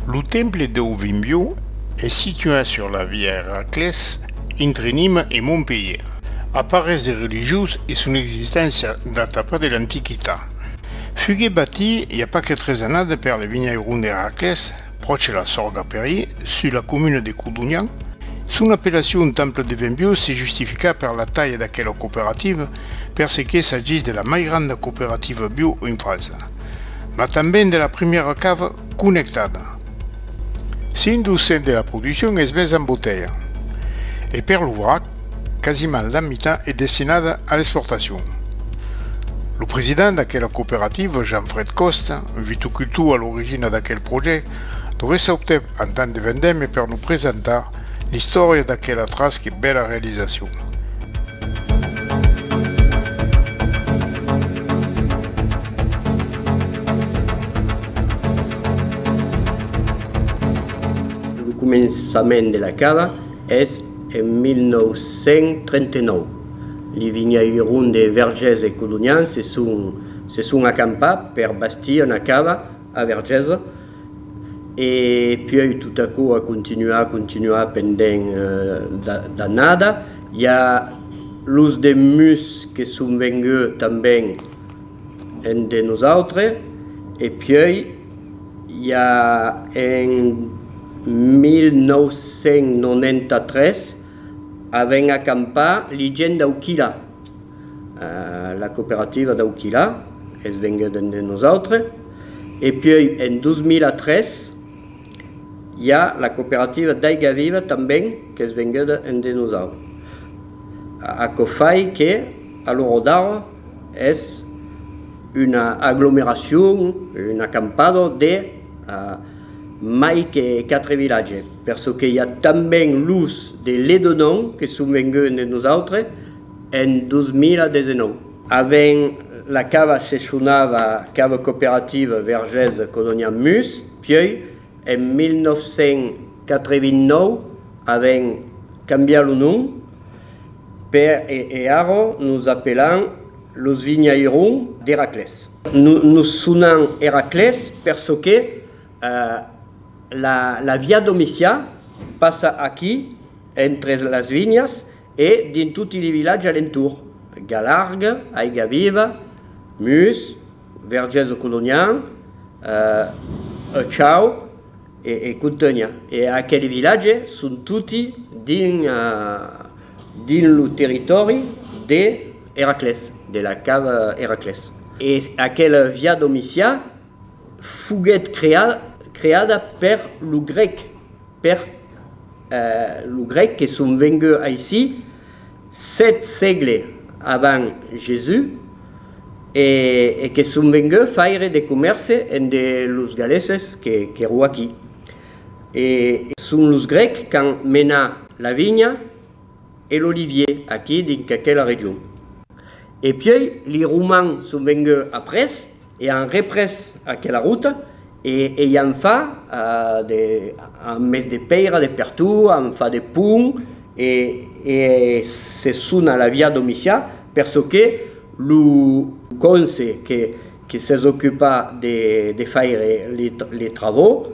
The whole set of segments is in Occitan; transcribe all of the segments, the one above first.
Lo temple deu Vimbiu es situat sur la via Eraclès entre Nîmes e Montpelhièr. Aparés de religiós e son existéncia data pas de l'antiquitat. Fugué batit i a pas que tres annadas per le vinhairon d'Eraclès, pròche la Sorga Perrier, sus la comuna de Codonhan. Son apellacion temple de vin biò se justifica per la talha d'aquela cooperativa, per ce que s'agís de la mai granda cooperativa biò en França, mas tanben de la primièra cava connectada. Cent-duscent de la produccion es mesa en botelha e per lo vrac, quasimal la mitan es destinada a l'exportacion. Lo president d'aquela cooperativa, Jean-Fred Costa, un vitucultor a l'origina d'aquel projèct, lo reçautèp en temps de vendèmia per nos presentar l'istòria d'aquela tras que bèla realizacion. Lo començament de la cava es. En 1939, li vinhèiron de Vergés e Colonian se son acampat per bastir una cava a Vergés e puèi tot aquò a continuat, continuat pendent d'annada. I a los de Mus que son venguts tanben en de nosautres e puèi, i a en 1993 a ven a campar li gent dau Quilà, la cooperativa dau Quilà es venguda en de nosautre, e puèi en 2003 i a la cooperativa d'Aiga Viva tanben qu'es venguda en de nosautre, aquò fai que a l'ora d'ara, Es una aglomeracion, un acampado de mai que 4 vilatges, per çò que i a tanben los de Ledonon que son venguts dens nosautres en 2019. Avent la cava se sonava Cave Coopérative Vergés Colonial Mus, pieu en 1989 avèm cambiat lo nom. Per e arro nos apelan los vinhairun d'Eraclès. Nos sonan Eraclès per çò que la via Domicià passa aquí entre las vinhas e dins toti li vilatge alentour, Galargue, Aigaviva, Mus, Vergés o Colonià, Ë Chau e Contenha. E aqueli vilatge son toti dins lo territòri de Eraclés, de la cava Eraclés. E aquela Via Domitià foguèt creada per lo grèc, per lo grèc que son vengut aicí sèt sègle avant Jesús, e que son venguts faire de comèrce en de los galeses qu'èro aquí. E son los grècs qu'an menat la vinha e l'olivier aquí dinc aquela region. E pièi li romans son venguts après. E an représ aquela rota e ei an fa de, an mes de pèira de pertot, an fa de pont e e se son a la via Domicià per çò que lo conse que que s'es ocupat de de faire les travaux,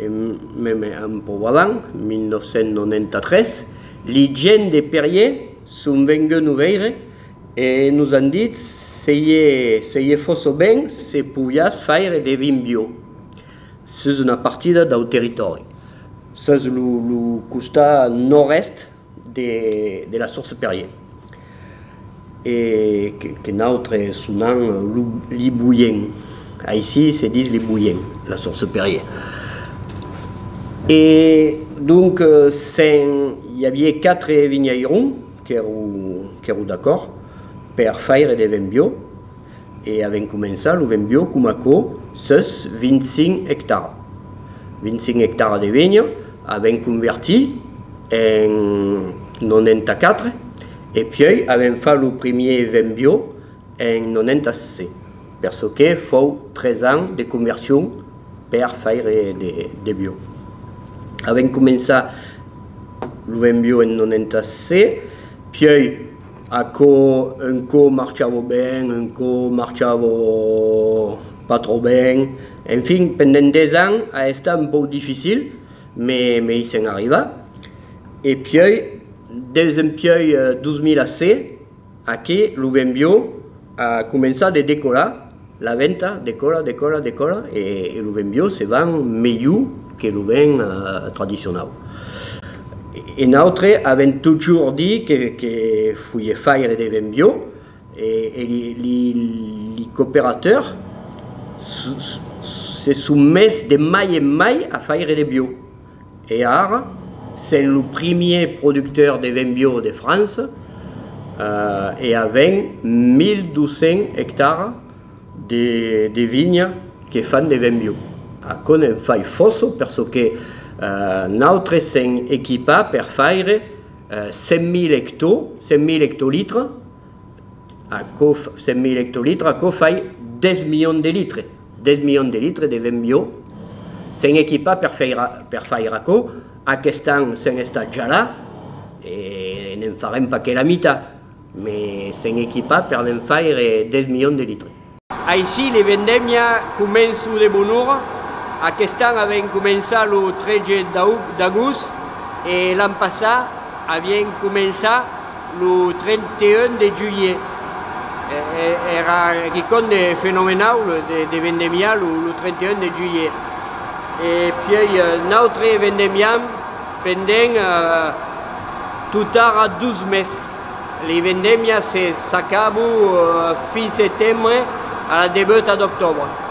En meme an Povalan, 1993, li gents de Perrier son venguts no veire e nos an dit se ie se ie fosso ben se poviás faire de vin bio sus una partida dau territòri, sus lo lo costat nòrd-èst de la Source Perrier e que nautre sonam lo Liboyen, aicí se dis Liboyen, la Source Perrier. E donc se'n i avié quatre vinhairons qu'èro d'acòrd per faire de vin bio. E avèm començat lo Venbio coma aquò sus 25 ectaras. 25 ectaras de venha avèm convertit en 94 e puèi avèm fat lo primièr Venbio en 96, per çò que fòu 3 ans de conversion per faire de bio. Avèm començat lo Venbio en 96, puèi. Aquò un cò marchava ben, un cò marchava pas tròp ben. En fin, pendent des ans a estat un pauc dificil, me i sèm arribat. E pieu, deus empieu 2006, aquí, lo Vent Bieu, A començar de decorar la venta, decora, decora, decora, e lo vin biò se vend melhor que lo vin tradicionau. E nautre avèm totjorn dit que que foie faire de vin biò e e li li cooperateurs se son mes de mai en mai a faire de biò. E ara, sent lo primier producteur de vin bio de França e avent 1.200 ectaras de vinha que fan de vin bio. Aquò ne'n fai fòça per çò que nautres sèm equipats per faire 100.000 hecto, 100.000 hectolitres, Aquò, 100.000 ectolitres, aquò fai 10 milions de litres. 10 milions de litres de vent biò. S'en equipar per faire, per faire aquò. Aquest an s'en estat ja là e n'en farem pas que la mitat, mais s'en equipar per n'en faire 10 milions de litres. Aicí le vendemia començo de bonora, aquest an avèm començat lo 13 d'agost e l'an passat avien començat lo 31 de julhet. Èra quicòm de fenomenau de vendemiar lo 31 de julhet e puèi nautre vendemiam pendent totara dos mes. Li vendemias se s'acabu fin setembre a la debuta d'octobre.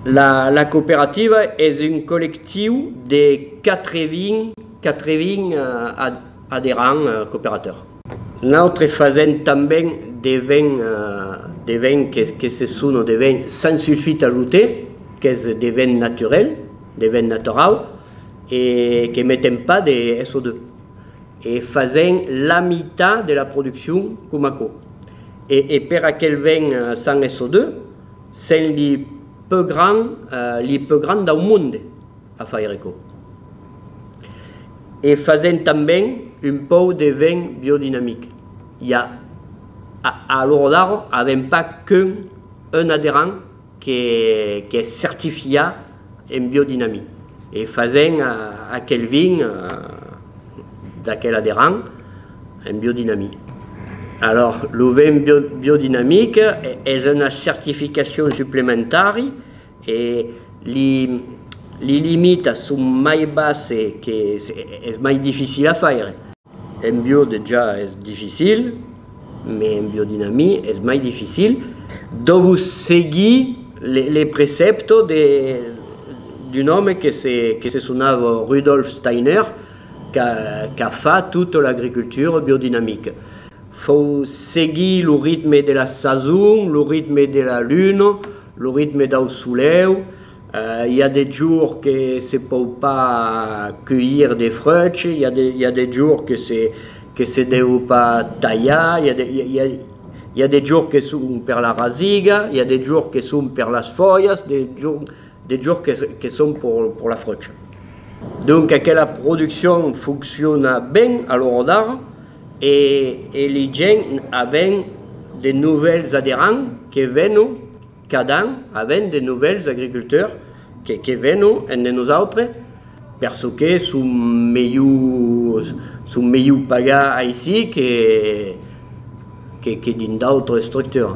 La cooperativa es un collectiu de 80 aderents cooperators. Nautre fasèm tanben de vin, de vin que se sona de vin sans sulfite ajouté, qu'es de vin naturel. de vent naturau e que metem pas de SO2 e fasèm la mitat de la produccion coma aquò e e per aquel vent sans SO2 sèm li peu grand li peu grand dau monde a faire aquò e fasèm tanben un pòu de vent biodinamic i a a l'ora d'ara avèm pas qu'un un aderant que qu'es certifiat en biodinami e fasen aquel vin d'aquela de rang en biodinami. Alors lo vin biodinamic es una certificacion suplementari e li li limitas son mai basse que es mai dificil a faire. En bio dejà es dificil, mes en biodinami es mai dificil. Dòvo seguir le precèpto d'un òme que se sonava Rudolf Steiner qu'a fat tota l'agricultura biodinamica. Fòu seguir lo ritme de la sason, lo ritme de la luna, lo ritme dau solèu, I a de jours que se pòu pas cueillir de freuch, i a i a de jours que se que se deu pas talhar, i a de i a i a de jours que son per la rasiga, i a de jours que son per las folhas, de jours de jours que que son pour pour la freuch. Donc aquela produccion foncciona ben a l'ora d'ara e e li gents aven de novèls aderants que venon Cada an avèm de novèls agriculteurs que que venon ende nosautres per çò que son melhor son melhor pagar aicí que que que dins d'autres estructures.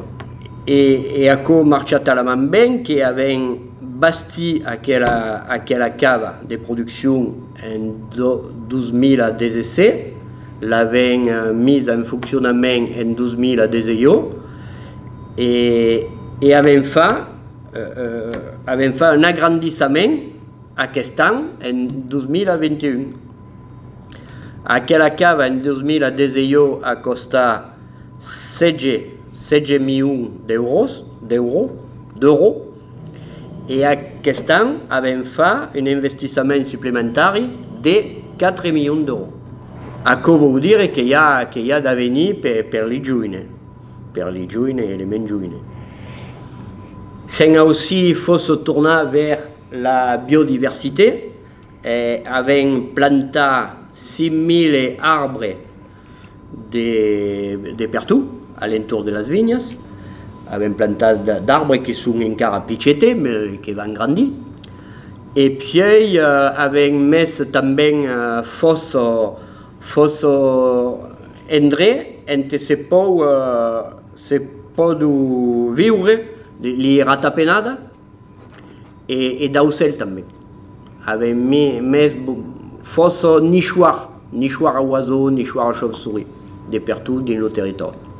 E e aquò marcha talament ben que avèm bastit aquela aquela cava de produccion en 2017, l'avèm misa en foncionament en 2018, e e avèm fa avèm fa un agrandissament aquest an en 2021 aquela cava en 2018 a costar 16 16 milions d'euros d'euro d'euro e aquest an avèm fa un investissament suplementari de 4 milions d'euro aquò vòu dire que i a que i a d'avenir per per li joines per li joine e li mens joine, se'n aussi fosso tornar vers la biodiversité, e avèm plantat 5000 arbres de de pertot a l'entorn de las vinhas, avèm plantat d'arbres que son encara pichetes me que van grandir, e puèi avèm mes tanben fosso, Fòça endre ente se pòu se pòdu viure li ratapenada e d'aucèl tanben. Avèm mès fòça nichoir, nichoir a oiseau, nichoir a chauve-souris de pertot dins lo territòri.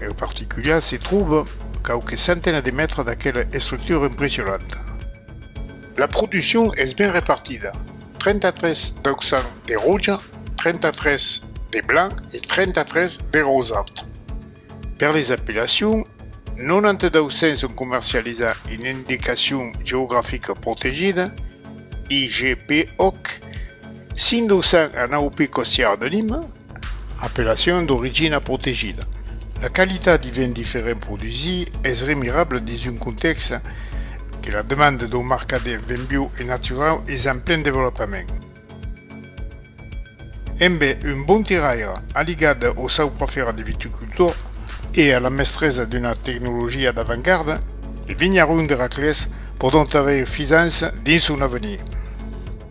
En particuliar se tròba quauques centena de mètres d'aquela estructura impressionanta. La produccion es ben repartida, 33 d'aucçan de roja, 33 de blanc e 33 de rosat. Per les apellacions, 92 cents son comercializats en Indicacion Geografica Protegida, IGP, òc. 1.209 picos siá de Lima, apellacion d'origina protegida. La qualitat de vin diferent produsir es remirable dins un contèxte que la demanda dau marcadèl vin biu e naturau es en plen devolopament. Embe un bon tiraire, aligat au sauprafèra de viticultor e a la mestresa d'una tecnologia d'avantgarda, de vinharons de Raclés pòdon aver fisança dins son avenir.